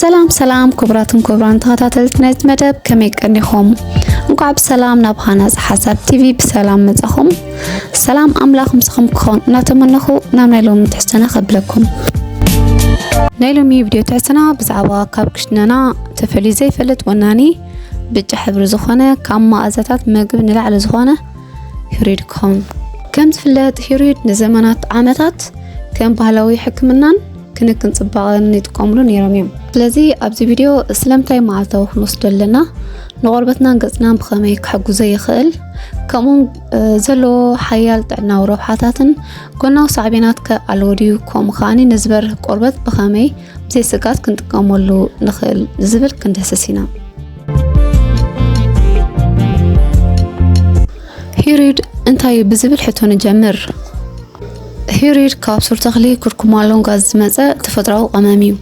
ሰላም ሰላም ክቡራትን ክቡራን ተኸታተልቲ ናይዚ መደብ ከመይ ቀኒኹም? እንኳዕ ብሰላም ናብ ሃናፅ ሓሳብ ቲቪ ብሰላም መጻኹም። ሰላም ኣምላኽ ምስኹም ክኾን እናተመነኹ ናብ ናይ ሎሚ ትሕዝቶና ከብለኩም። ናይ ሎሚ ቪድዮ ትሕዝቶና ብዛዕባ ካብ ክሽነና ተፈልዩ ዘይፈልጥ ወናኒ ብጫ ሕብሪ ዝኾነ ካብ መኣዛታት ምግቢ ንላዕሊ ዝኾነ ሂሩድ ክኸውን ከም ዝፍለጥ ሂሩድ ንዘመናት ዓመታት ከም ባህላዊ ሕክምናን ክንክን ጽባቐን ይጥቀምሉ ነይሮም እዮም። ስለዚ ኣብዚ ቪድዮ ስለምንታይ መዓልታዊ ክንወስዶ ኣለና፣ ንቆርበትናን ገጽናን ብኸመይ ክሕግዞ ይኽእል፣ ከምኡውን ዘለዎ ሓያል ጥዕናዊ ረብሓታትን ጎናዊ ሳዕቤናት ከ ኣለዎ ድዩ፣ ከምኡ ከዓኒ ንዝበርህ ቆርበት ብኸመይ ብዘይ ስጋት ክንጥቀመሉ ንኽእል ዝብል ክንድህስስ ኢና። ሂሪድ እንታይ እዩ ብዝብል ሕቶ ንጀምር። ሂሪር ካብ ሱር ተኽሊ ኩርኩማ ሎንጋ ዝመጸ ተፈጥሮኣዊ ቀመም እዩ።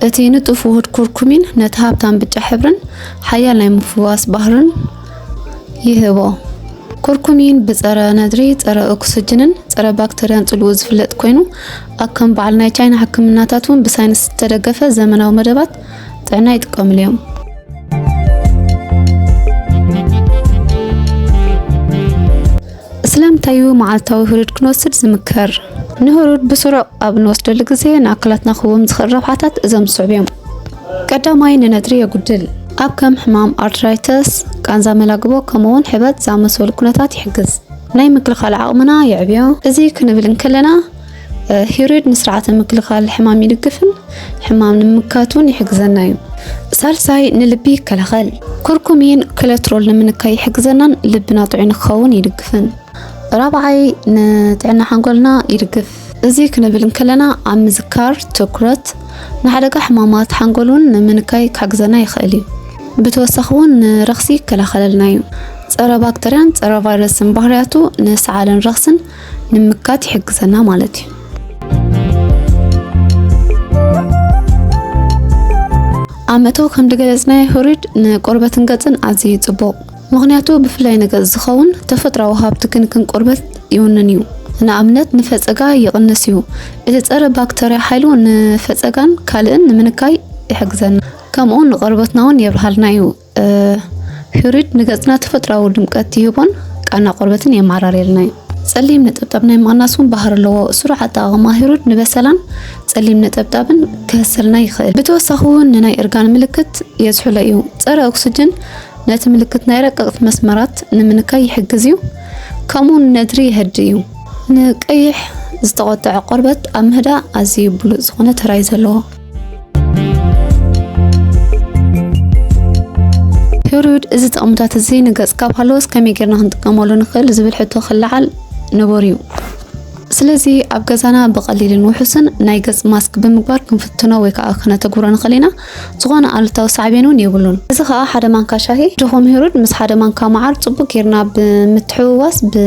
እቲ ንጡፍ ውሁድ ኩርኩሚን ነቲ ሃብታም ብጫ ሕብርን ሓያል ናይ ምፍዋስ ባህርን ይህቦ። ኩርኩሚን ብጸረ ነድሪ፣ ጸረ ኦክስጅንን ጸረ ባክተርያን ጽልኡ ዝፍለጥ ኮይኑ ኣብ ከም በዓል ናይ ቻይና ሕክምናታት እውን ብሳይንስ ዝተደገፈ ዘመናዊ መደባት ጥዕና ይጥቀምሉ እዮም። ስለምንታይ እዩ መዓልታዊ ህሩድ ክንወስድ ዝምከር? ንህሩድ ብስሩዕ ኣብ እንወስደሉ ግዜ ንኣካላትና ክህቦም ዝኽእል ረብሓታት እዞም ዝስዕቡ እዮም። ቀዳማይ፣ ንነድሪ የጉድል። ኣብ ከም ሕማም ኣርትራይተስ፣ ቃንዛ መላግቦ፣ ከምኡ'ውን ሕበጥ ዝኣመሰሉ ኩነታት ይሕግዝ። ናይ ምክልኻል ዓቕምና የዕብዮ። እዚ ክንብል እንከለና፣ ሂሩድ ንስርዓተ ምክልኻል ሕማም ይድግፍን ሕማም ንምካቱን ይሕግዘና እዩ። ሳልሳይ ንልቢ ይከላኸል። ኩርኩሚን ኮለትሮል ንምንካይ ይሕግዘናን ልብና ጥዑይ ንክኸውን ይድግፍን። ራብዓይ ንጥዕና ሓንጎልና ይድግፍ። እዚ ክንብል እንከለና ኣብ ምዝካር፣ ትኩረት፣ ንሓደጋ ሕማማት ሓንጎል እውን ንምንካይ ክሕግዘና ይኽእል እዩ። ብተወሳኺ እውን ንረኽሲ ይከላኸለልና እዩ። ፀረ ባክተርያን ፀረ ቫይረስን ባህርያቱ ንሰዓልን ረኽስን ንምካት ይሕግዘና ማለት እዩ። ኣብ መእተዊ ከም ዝገለጽናዮ ህሩድ ንቆርበትን ገጽን ኣዝዩ ጽቡቕ ምኽንያቱ ብፍላይ ንገጽ ዝኸውን ተፈጥራዊ ሃብቲ ክንክን ቆርበት ይውንን እዩ። ንኣብነት ንፈጸጋ ይቕንስ እዩ። እቲ ጸረ ባክተርያ ሓይሉ ንፈጸጋን ካልእን ንምንካይ ይሕግዘና። ከምኡ ንቆርበትና እውን የብርሃልና እዩ። ፒሪድ ንገጽና ተፈጥሮኣዊ ድምቀት ይህቦን ቃና ቆርበትን የመዓራርየልና እዩ። ጸሊም ነጠብጣብ ናይ ምቕናስ እውን ባህሪ ኣለዎ። ስሩዕ ኣጠቓቕማ ሂሩድ ንበሰላን ጸሊም ነጠብጣብን ክህሰልና ይኽእል። ብተወሳኺ እውን ንናይ እርጋን ምልክት የዝሕሎ እዩ። ጸረ ኦክስጅን ነቲ ምልክት ናይ ረቀቕቲ መስመራት ንምንካይ ይሕግዝ እዩ፣ ከምኡ ነድሪ የህድ እዩ። ንቀይሕ ዝተቖጠዐ ቆርበት ኣብ ምህዳእ ኣዝዩ ብሉጽ ዝኾነ ተራይ ዘለዎ ፔሪዮድ እዚ ጥቕምታት እዚ ንገጽ ካብ ሃለወስ ከመይ ጌርና ክንጥቀመሉ ንኽእል ዝብል ሕቶ ክለዓል ንቡር እዩ ስለዚ ኣብ ገዛና ብቐሊልን ውሑስን ናይ ገጽ ማስክ ብምግባር ክንፍትኖ ወይ ከዓ ክነተግብሮ ንኽእል ኢና ዝኾነ ኣሉታዊ ሳዕቤን እውን የብሉን እዚ ከዓ ሓደ ማንካ ሻሂ ድኹም ሂሩድ ምስ ሓደ ማንካ መዓር ፅቡቅ ጌርና ብምትሕውዋስ ብ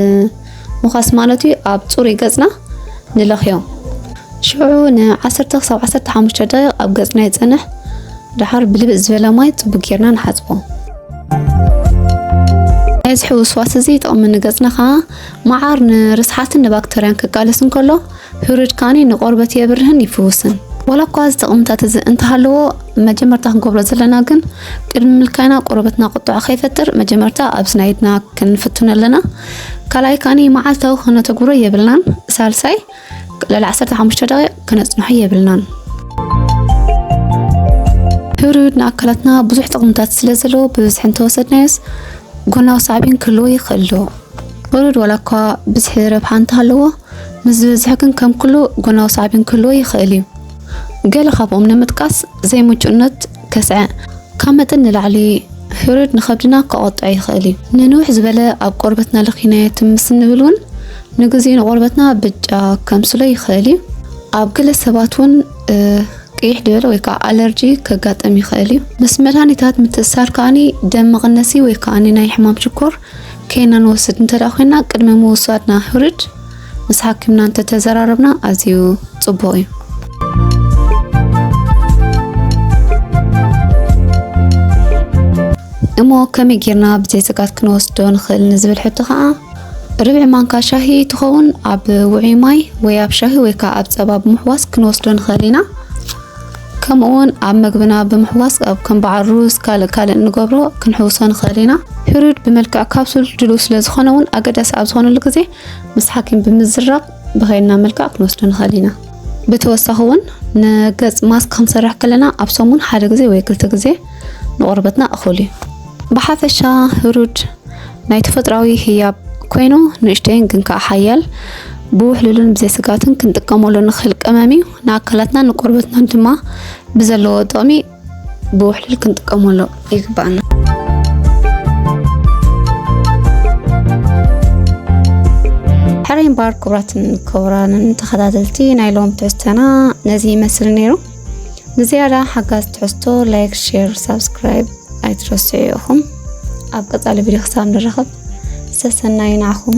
ምዃስ ማለት እዩ፣ ኣብ ጽሩይ ገጽና ንለኽዮ። ሽዑ ንዓሰርተ ክሳብ ዓሰርተ ሓሙሽተ ደቂቕ ኣብ ገጽና ይጸንሕ፣ ደሓር ብልብጥ ዝበለ ማይ ጽቡቕ ጌርና ንሓጽቦ። ናይ እዚ ሕውስዋስ እዚ ጥቕሚ ንገጽና ከኣ መዓር ንርስሓትን ንባክተርያን ክቃለስ እንከሎ ፒሪድ ካኒ ንቆርበት የብርህን ይፍውስን። ዋላ እኳ እዚ ጥቕምታት እዚ እንተሃለዎ መጀመርታ ክንገብሮ ዘለና ግን ቅድሚ ምልካይና ቆርበትና ቁጥዐ ከይፈጥር መጀመርታ ኣብ ስናይድና ክንፍትኖ ኣለና። ካልኣይ ካኒ መዓልታዊ ክነተግብሮ የብልናን። ሳልሳይ ልዕሊ 15 ደቂቕ ክነጽንሖ የብልናን። ፒሪድ ንኣካላትና ብዙሕ ጥቕምታት ስለ ዘለዎ ብብዝሒ እንተወሰድናዮስ ጎናዊ ሳዕቤን ክህልዎ ይኽእል ዶ? ፒሪድ ዋላ እኳ ብዝሒ ረብሓ እንተሃለዎ ምስ ዝበዝሐ ግን ከም ኩሉ ጎናዊ ሳዕቤን ክህልዎ ይኽእል እዩ። ገለ ካብኦም ንምጥቃስ፣ ዘይምቹእነት ከስዐ፣ ካብ መጠን ንላዕሊ ህሩድ ንኸብድና ከቖጥዕ ይኽእል እዩ። ንንውሕ ዝበለ ኣብ ቆርበትና ለኺናዮ ትም ምስ እንብል እውን ንግዜኡ ንቆርበትና ብጫ ከምስሎ ይኽእል እዩ። ኣብ ገለ ሰባት እውን ቅይሕ ዝበለ ወይ ከዓ ኣለርጂ ከጋጥም ይኽእል እዩ። ምስ መድሃኒታት ምትእስሳር ከኣ ደም መቐነሲ ወይ ከዓ ናይ ሕማም ሽኮር ከይና ንወስድ እንተ ኮይና ቅድሚ ምውሳድና ሕሩድ ምስ ሓኪምና እንተ ተዘራረብና ኣዝዩ ጽቡቕ እዩ። እሞ ከመይ ጌርና ብዘይ ስጋት ክንወስዶ ንኽእል ንዝብል ሕቶ ከዓ ርብዒ ማንካ ሻሂ ትኸውን ኣብ ውዑይ ማይ ወይ ኣብ ሻሂ ወይ ከዓ ኣብ ፀባ ብምሕዋስ ክንወስዶ ንኽእል ኢና። ከምኡውን ኣብ መግብና ብምሕዋስ ኣብ ከም በዓል ሩዝ ካልእ ካልእ እንገብሮ ክንሕውሶ ንኽእል ኢና። ፒሪድ ብመልክዕ ካፕሱል ድልው ስለ ዝኾነ እውን ኣገዳሲ ኣብ ዝኾነሉ ግዜ ምስ ሓኪም ብምዝራብ ብኸይድና መልክዕ ክንወስዶ ንኽእል ኢና። ብተወሳኺ እውን ንገጽ ማስክ ክንሰርሕ ከለና ኣብ ሰሙን ሓደ ግዜ ወይ ክልተ ግዜ ንቆርበትና እኹል እዩ። ብሓፈሻ ህሩድ ናይ ተፈጥራዊ ህያብ ኮይኑ ንእሽተይን ግን ከዓ ሓያል ብውሕሉልን ብዘይስጋትን ክንጥቀመሉ ንኽእል ቀመም እዩ። ንኣካላትናን ንቆርበትናን ድማ ብዘለዎ ጥቕሚ ብውሕልል ክንጥቀመሉ ይግባኣና። ሕራይ እምበኣር ክቡራትን ክቡራንን ተኸታተልቲ ናይ ሎም ትሕዝቶና ነዚ ይመስል ነይሩ ንዝያዳ ሓጋዝ ትሕዝቶ ላይክ ሼር ሳብስክራይብ ኣይትረስዑ ኢኹም ኣብ ቀፃሊ ቪድዮ ክሳብ ንራኸብ ዝተሰናዩ ንዓኹም